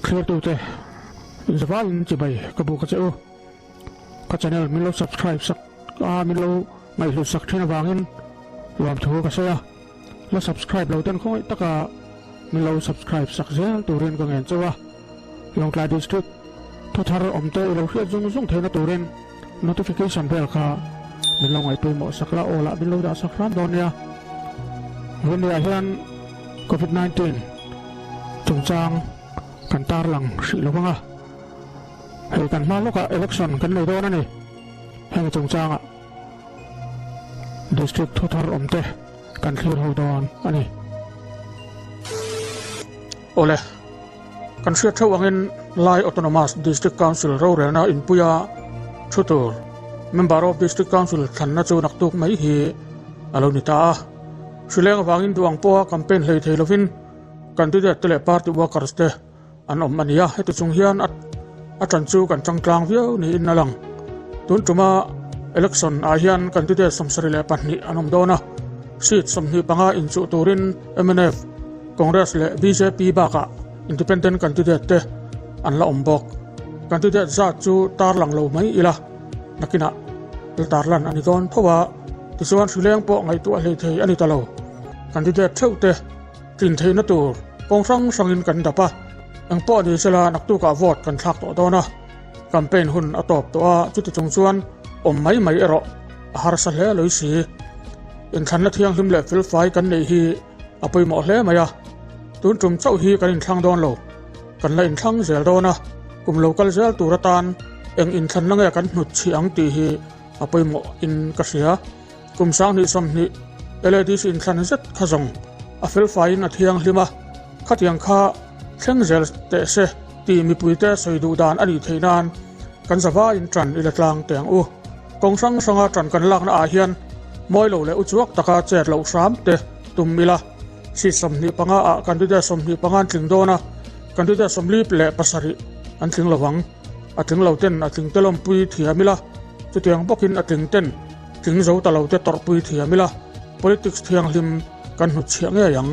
Thlir tute zaval in chi bai ka bu ka che u ka channel min lo subscribe sak a min lo ngaihhlu sak thin avangin nuam thu ka sawi a. La subscribe lo ten khawngawih taka min lo subscribe sak zel turin ka ngen chauh a, Lawngtlai District thawthar awmte i lo hriat zung zung theihna turin notification vel kha min lo ngaihtuih mawh sak la, all ah min lo dah sak hram dawn nia. Rania hian Covid nineteen chungchang kan tar lang hrih lo vang a, hei kan hma lawkah election kan nei dawn a ni, heng chungchangah. District thu thar awm te kan thlir ho dawn a ni. Awle, kan hriat theuh angin Lai Autonomous District Council rorelna inpuia thu tur Member of District Council thlanna chu naktuk mai hi a lo ni ta a. Hrileng avangin duh ang pawha campaign hlei thei lovin candidate te leh party workers te, an awm a ni a heti chung hian a a ṭan chu kan ṭangtlang viau niin a lang tun ṭuma election ah hian candidate sawmsari leh pahnih an awm dawn a seat sawmhnih panga inchuh turin mnf congress leh bjp bakah independent candidate te an la awm bawk candidate zat chu tarlang lo mai ila nakinah la tarlan a ni dawn tho a tichuan hrileng pawh ngaihtuah hleithei a ni ta lo candidate ṭheuhte. Tlin theihna tur kawng hrang hrangin kan dap a, engpawh ni se la naktukah vote kan thlak tawh dawn a, campaign hun a tawp tawh a, chuti chung chuan awm mai mai erawh a harsa hle a lawisi. Inthlanna thianghlim leh felfai kan neih hi a pawimawh hle mai a, tun tum chauh hi kan inthlang dawn lo, kan la inthlang zel dawn a, kum lo kal zel tur atan eng inthlanna nge kan hnut chhi ang tih hi a pawimawh in ka hria. Kum sang hnih sawmhnih LADC inthlan zet kha zawng a felfaiin a thianghlim a, khatiang kha thleng zel teh se tih mipuite sawi duh dan a nih theih nan kan zavaiin ṭan i la tlang teh ang u. Kawng hrang hranga ṭan kan lakna ah hian mawi lo leh uchuak taka chet loh hram te tum ila, seat sawmhnih panga ah candidate sawmhnih panga an tling dawn a, candidate sawmlip leh pasarih an tling lo vang. A tling lo ten a tling telawmpui thiam ila, chutiang bawkin a tling ten Tling zo ta lo te tawrhpui thiam ila, politics thianghlim kan hnut chhiah ngei ang.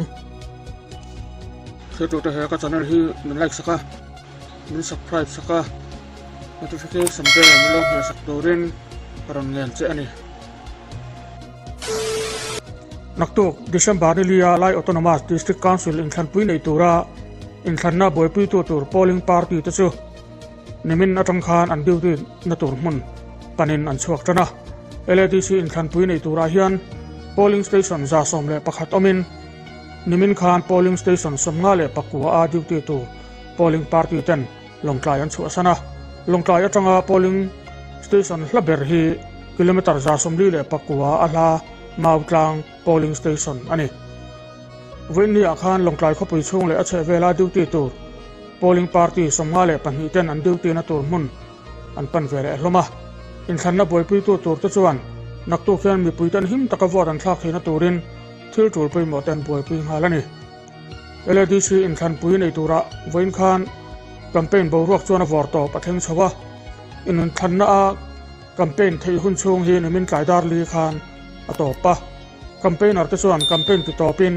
Thlir tute he ka channel hi min like sak a, min subscribe sak a, notification te min lo hmel sak turin ka rawn ngen che a ni. Naktuk, December ni lia Lai Autonomous District Council inthlanpui nei tura inthlanna buaipuitu tur polling party te chu, Nimin atang khan an duty na tur hmun panin an chhuak tan a. LADC inthlanpui nei turah hian polling station za sawm leh pakhat awmin nimin khan polling station sawmnga leh pakua a duty tur polling party ten lawngtlai an chhuahsan a. Lawngtlai atanga polling station hla ber hi kilometre za sawmli leh pakua a hla mau tlang. Polling Station a ni. Vinny ah khan Lawngtlai khawpui chhung leh a chhehvela duty tur Polling Party sawmnga leh pahnih ten an duty na tur hmun an pan ve leh hlawm a. Inthlanna buaipuitu tur te chuan naktuk hian mipui tan him taka vote an thlak theihna turin thil tul pawimawh te an buaipui nghal a ni. LADC inthlanpui nei turah vawiin khan campaign boruak chuan a vawr tawp a thleng chho a. Inthlanna a. Campaign theih hun chhung hi ni min tlaidar li khan a tawp a. Campaigner te chuan campaign ti tawpin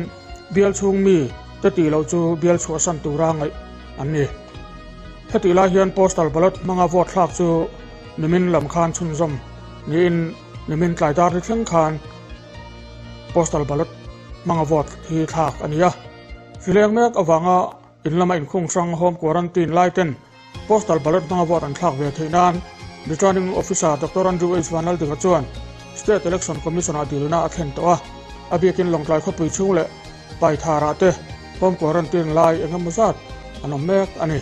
bial chhung mi te tih loh chu bial chhuahsan tura ngaih an ni. Hetih lai hian postal ballot hmanga vote thlak chu ni min lam khan chhunzawm niin ni min tlaidar li thleng khan postal ballot hmanga vote hi thlak a ni a. Thlileng mek avanga, In lama inkhung hrang home quarantine lai ten postal ballot hmanga vote an thlak ve theih nan Returning Officer Doctor Andrew H Vanlaldigha chuan State Election Commission ah dil na a thlen tawh a, a biakin Lawngtlai khawpui chhung leh Paithar ah te home quarantine lai engemaw zat an awm mek a ni.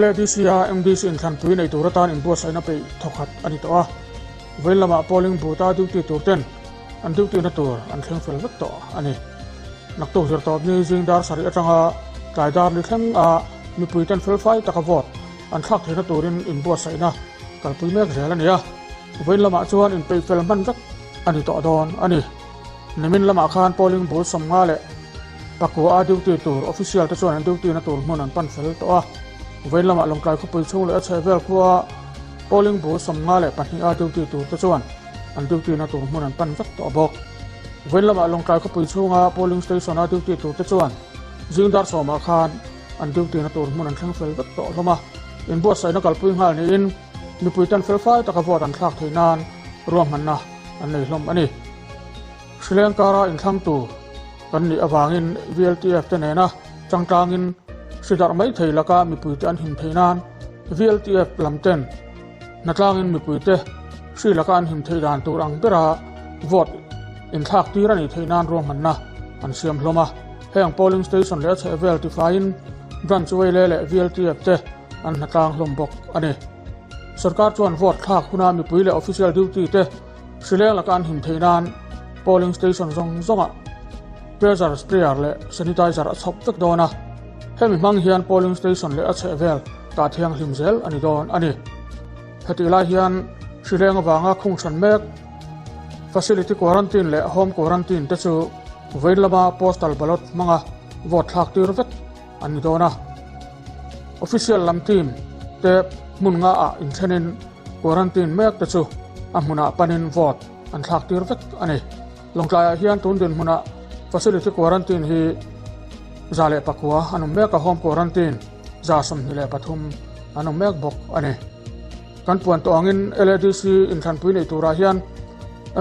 LADC a mdc inthlanpui nei tur atan inbuatsaihna peih thawkhat a ni tawh a. Vawin lamah polling booth a duty tur ten an duty na tur an thleng fel vek tawh a ni. Naktuk zirtawp ni zingdar sarih atanga tlai dar ni thleng a mipui ten fel fai taka vote an thlak theihna turin inbuatsaihna kalpui mek zel a ni a. Vawin lamah chuan inpeih fel hman vek a ni tawh dawn a ni. Nimin lamah khan polling bul sawmnga leh pakua duty tur official te chuan an duty na tur hmun an pan fel tawh a. Vawiin lamah Lawngtlai khawpui chhung leh a chhehvel khua polling bul sawmnga leh pahniha duty tur te chuan an duty na tur hmun an pan vek tawh bawk. Vawiin lamah Lawngtlai khawpui chhunga polling station a duty tur te chuan zing dar sawmah khan an duty na tur hmun an thleng fel vek tawh hlawm a. Inbuatsaihna kalpui nghal niin mipui tan felfai taka vote an thlak thei nan ruahmanna an nei hlawm a ni. Sri Lanka-a inthlangtu kan nih avangin VLTF-te nena changtlangin hridarh mai thei laka mipuite an him theih nan VLTF lamten hnatlangin mipuite hri laka an him thei dan tur ang bera vote inthlak tir a nih theih nan ruahmanna an siam hlawm a. Heng polling station leh a chhehvel tifaiin branch vawile leh VLTF-te an hla tlang hlawm bawk a ni. Sorkar chuan vote thlak huna mipui leh official duty te hrileng laka an him theih nan polling station zawng zawngah pressure sprayer leh sanitizer a chhawp vek dawn a. Hemi hmang hian polling station leh a chhehvel tah thianghlim zel a ni dawn a ni. Hetih lai hian hrileng avanga khung chhan mek facility quarantine leh home quarantine te chu vain lama postal ballot hmanga vote thlak tir vek an ni dawn a. Official lam team te hmun nga ah inthlenin quarantine mek te chu a hmunah panin vote an thlak tir vek a ni. Lawngtlaiah hian tun dinhmunah facility quarantine hi za leh pakua an awm mek a, home quarantine za sawmhnih leh pathum an awm mek bawk a ni. Kan puan tawh angin LADC inthlanpui neih turah hian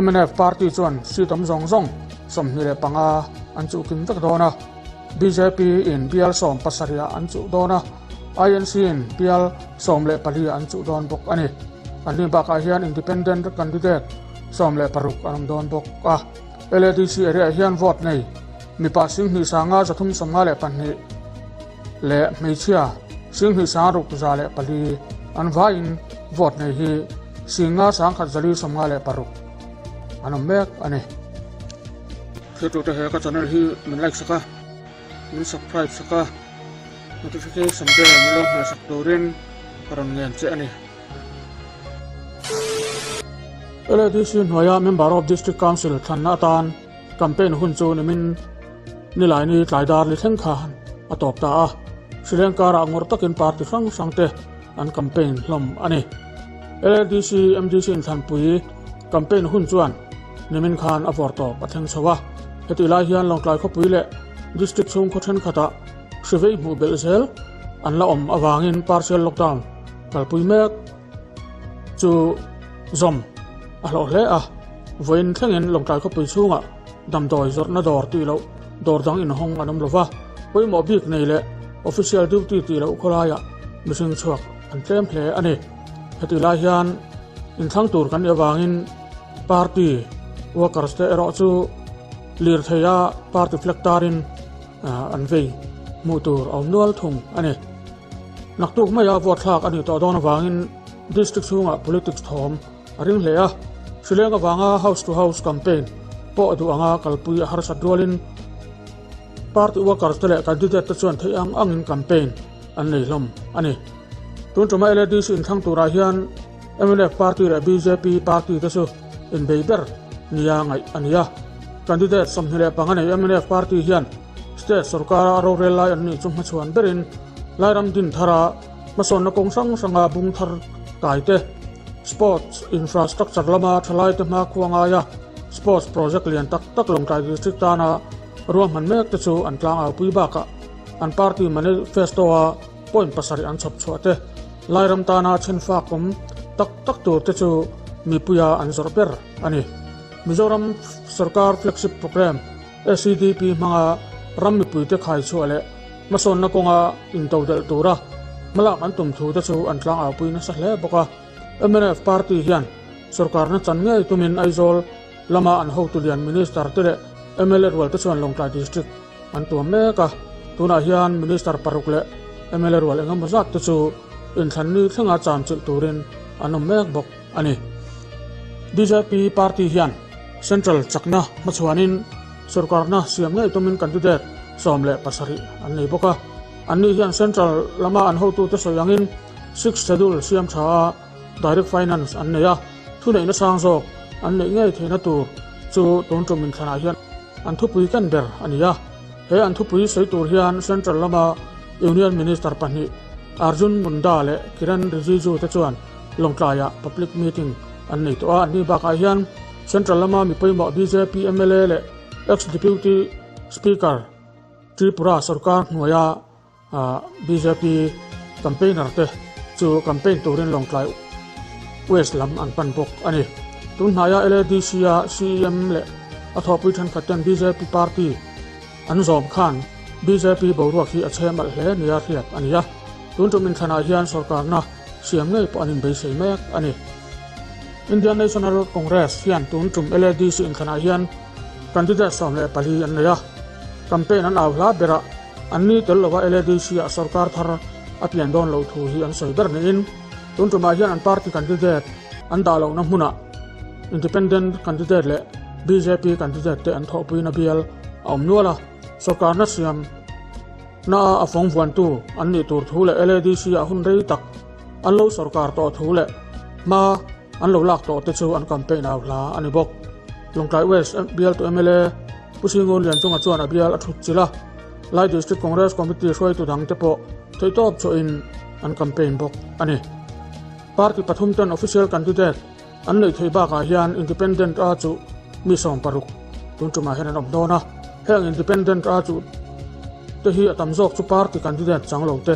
mnf party chuan seat awm zawng zawng sawmhnih leh panga an chuhkim vek dawn a. Bjp in bial sawm pasarih an chuh dawn a, INC in bial sawm leh pali an chuh dawn bawk a ni. An hnu bakah hian Independent candidate sawm leh paruk an awm dawn bawk a. LADC area-ah hian vote nei mipa Singhnih sanga za thum sawmnga leh pahnih leh hmeichhia Singhnih sanga ruk za leh pali an vaiin vote nei hi Singa sangkhat zali sawmnga leh paruk an awm mek a ni. Theihtute he ka channel hi min like sak a, min subscribe sak a, notification bell min lo nghal sak turin ka rawn ngen che a ni. LADC hnuaia Member of District Council thlanna atan campaign hun chu nimin nilai ni tlai dar ni thleng kha a tawp ta a, Sri Lanka rah ngawr takin party hrang hrangte an campaign hlawm a ni. LADC MDC inthlanpui Campaign hun chuan Nimin khan a vawr tawp a thleng chho a, heti lai hian Lawngtlai khawpui leh District chhungkhaw thenkhatah hrivei hmuh belh zel an la awm avangin partial lockdown kalpui mek chu zawm a hlawh hle a. Vawiin thlengin Lawngtlai khawpui chhungah damdawi zawrhna dawr tih loh dawr dang inhawng an awm lo va, pawimawh bik nei leh official duty tih loh khawlaiah mihring chhuak an tlem hle a ni. Heti lai hian in thlang tur kan nia vangin party workers te erawh chu lirthei a party flag tarin an vei hmuh tur a awm nual thung a ni naktuk mai a vote thlak a ni tawh dawn avangin district chhungah politics thawm a ring hle a hrileng avanga house to house campaign pawh duh anga kalpui a harsat rualin Party workers te leh candidate te chuan theih ang angin campaign an nei hlawm a ni. Tun tuma LADC inthlâng turah hian mnf party leh bjp party te chu inbei ber nia ngaih a ni a. Candidate sawmhnih leh panga nei mnf party hian state sawrkara rorel lai an nih chu hmachhuan berin Lairam din thara hmasawnna kawng hrang hranga bung thar kai te, sports infrastructure lama thalai te hma khuangaia sports project lian tak tak Lawngtlai District tana Ruahman mek te chu an tlang aupui bakah an party manifesto a point pasarih an chhawp chhuah te, Lairam tana chhinfak kum tak tak tur te chu mipuia an zawrh ber a ni. Mizoram Sorkar Flagship Programme, SCDP, hmanga ram mipuite khai chhuah leh hmasawnna kawnga into delh tura hmalak an tum thu te chu an tlang aupui nasa hle bawk a. Mnf party hian sorkarna chan ngei tumin Aizawl, Lama an hotu lian Minister te leh mla rualte chuan Lawngtlai District an tuam mek a. Tunah hian Minister paruk leh mla rual engemaw zat te chu inthlan ni thlenga chan chilh turin an awm mek bawk a ni. Bjp party hian Central chakna hmachhuanin sorkarna siam ngei tumin candidate sawm leh pasarih an nei bawk a. Anni hian Central lama an hotute sawi angin Sixth Schedule siam tha a. Direct Finance an nei a, thuneihna sang zawk an neih ngei theihna tur chu tun ṭawm inthlanah hian an thupui kan ber a ni a. He an thupui sawi tur hian Central lama Union Minister pahnih Arjun Munda leh Kiren Rijiju te chuan Lawngtlaiah public meeting an nei tawh a. An ni bakah hian Central lama mi pawimawh bjp mla leh ex-Deputy Speaker Tripura sawrkar hnuaia Ahh bjp campaigner te chu campaign turin Lawngtlai West lam an pan bawk a ni. Tun hnaia LADC a CEM leh a thawhpui thenkhat ten bjp party an zawm khan bjp boruak hi a chhem alh hle nia hriat a nia. Tun tum inthlanah hian sawrkarna siam ngei pawh an inbeisei mek a ni. Indian National Congress hian tun tum LADC inthlanah hian candidate sawm leh pali an nei a. Campaign an au hla berah. An ni tel lo a LADC-ah sorkar thar a pian dawn lo thu hi an sawi ber niin tun tumah hian an party candidate an dah lohna hmunah Independent candidate leh bjp candidate te an thawhpuina bial a awm nual a. Sorkarna siam naah a fawng vuantu an nih tur thu leh LADC-ah hun rei tak an lo sorkar tawh thu leh hma an lo lak tawh te chu an campaign au hla a ni bawk. Tlangkai West Bialtu mla Pu Sri Ngun Lian Chunga chuan a bial a thut chilh a, Lai District Congress Committee hruaitu dang te pawh theihtawp chawh in an campaign bawk a ni. Party pathum ten official candidate an neih theih bak ah hian Independent a chu mi sawm paruk tun tum ah hian an awm dawn a, heng Independent a chu te hi a tam zawk chu party candidate chang lo te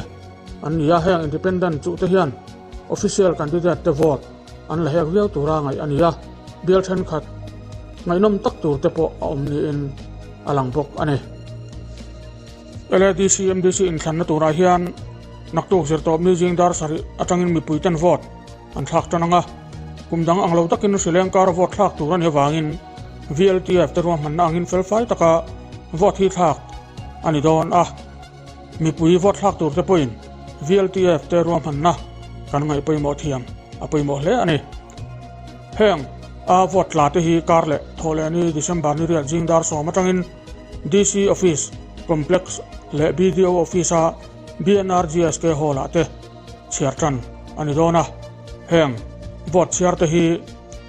an ni a, heng Independent chu te hian official candidate te vote An la hek viau tura ngaih a ni a, bial thenkhat ngaihnawm tak tur te pawh a awm niin a lang bawk a ni. LADC MDC inthlanna tunah hian naktuk zirtawpni zing dar sarih atangin mipuiten vote an thlak tan ang a, kum dang ang lo takin hrileng kara vote thlak tur a nih avangin VLTF-te ruahmanna angin felfai taka vote hi thlak a ni dawn a. Mipui vote thlak tur te pawhin VLTF te ruahmanna kan ngaih pawimawh thiam a pawimawh hle a ni. Heng a vote tla te hi kar leh thaw leh ni December niriat zing dar sawm atangin DC Office Complex leh BDO Office a BNR GSK Hall ah te chhiar tan a ni dawn a. Heng vote chhiar te hi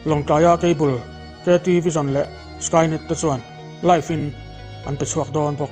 Lawngtlaia cable KT Vision leh Skynet te chuan live in an pe chhuak dawn bawk.